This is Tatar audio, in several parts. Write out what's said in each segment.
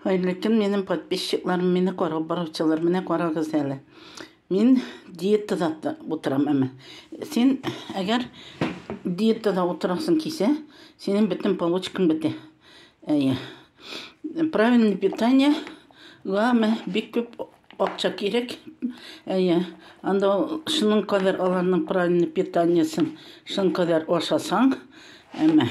Хәерле көн, минем подписчикларым, мине карап баручылар, менә карагыз әле. Мин диетада утырам әмә. Син әгәр диетада утырасың кисә, синең бөтен получкаң бетә. Әйе. Правильное питание га мә бик күп акча кирәк. Әйе. Анда шуның кадәр аларның правильное питаниесын шуның кадәр ашасаң, әмә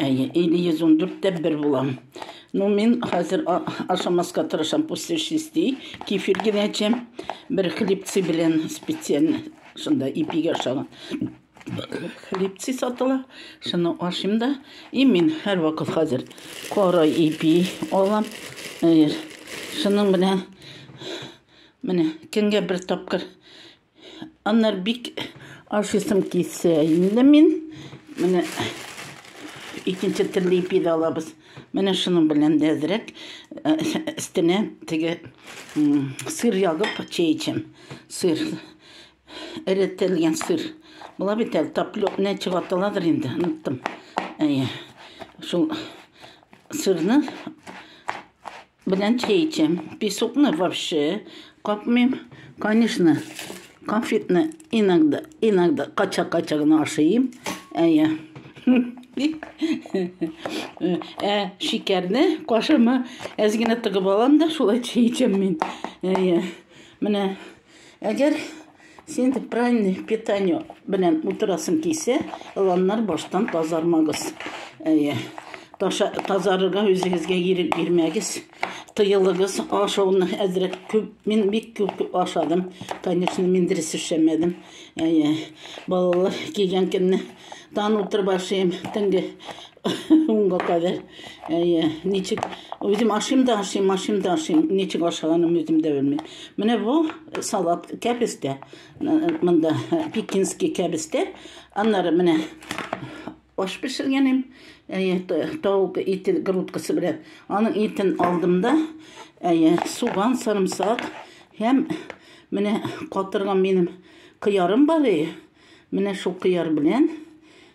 Әйе, или йөз ундүрттә бер булам. Ну, мин хәзер ашамаска тырышам, после шести, кефир генә эчәм, бер хлебцы белән специально, шунда ипигә ашаган. Хлебцы сатыла, шуны ашыйм да, и мин һәрвакыт хәзер кара ипи алам. Шуның белән менә көнгә бер тапкыр Аннар бик ашыйсым килсә инде мин менә икенче төрле ипи дә алабыз. Менә шуның белән дә әзрәк өстенә э, э, теге сыр ягып чәй эчәм. Сыр. Эретелгән сыр. Була бит әле таплёк не чыгартыладыр инде, оныттым. Әйе. Шул сырны Белән чәй эчәм. Песокны вообще капмыйм. Конечно, конфетны иногда, иногда кача-кача гына ашыйм. Әйе. Ә шикәрне кашыма әз генә тыгып алам да шулай чәй эчәм мин. Әйе. Менә Әгәр син дип правильный питание белән утырасың кисә, ыланнар баштан тазармагыз. Әйе. Таша тазарырга үзегезгә ирек бирмәгез. Тыелыгыз ашауны әзрәк күп. Мин бик күп ашадым. Конечно, мин дөрес эшләмәдем. Әйе. Балалар кигән көнне тан утырып ашыйм, төнге Унга кадәр. Әйе, ничек үзем ашыйм да ашыйм, ашыйм да ашыйм. Ничек ашаганым үзем дә белмим. Менә бу салат кәбестә. Монда пекинский кәбестә. Аннары менә аш пешергәнем. Әйе, тавык ите грудкасы белән. Аның итен алдым да, әйе, суган, сарымсак һәм менә катырган минем кыярым бар. Менә шул кыяр белән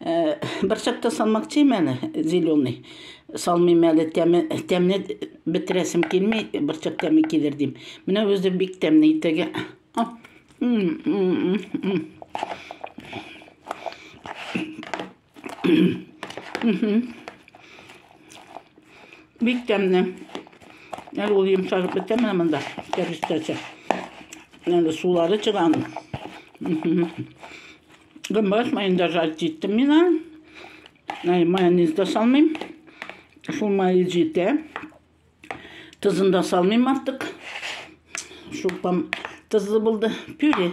Э, Берчакта салмак тим әле, зеленый. Салмыйм әле, тәме, тәмне бетерәсем килми, берчак тәме килер дим. Менә үзе бик тәмне итәгә. Бик тәмне. Әле ул йомшарып бетә менә монда, кәрестәчә. Әле сулары чыганы. Гымбат майын да жарт иттем мин аны. Ә, майонез да салмыйм. Шул майы җитә. Тозын да салмыйм артык. Шулпам тозлы булды. Пюре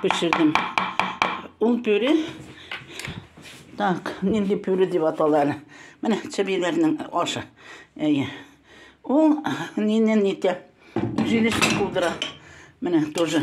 пешердем. Ул пюре Так, нинди пюре дип аталар. Менә чебиләрнең ашы. Әйе. Ул нинен нитә? Җилешне кудыра. Менә тоже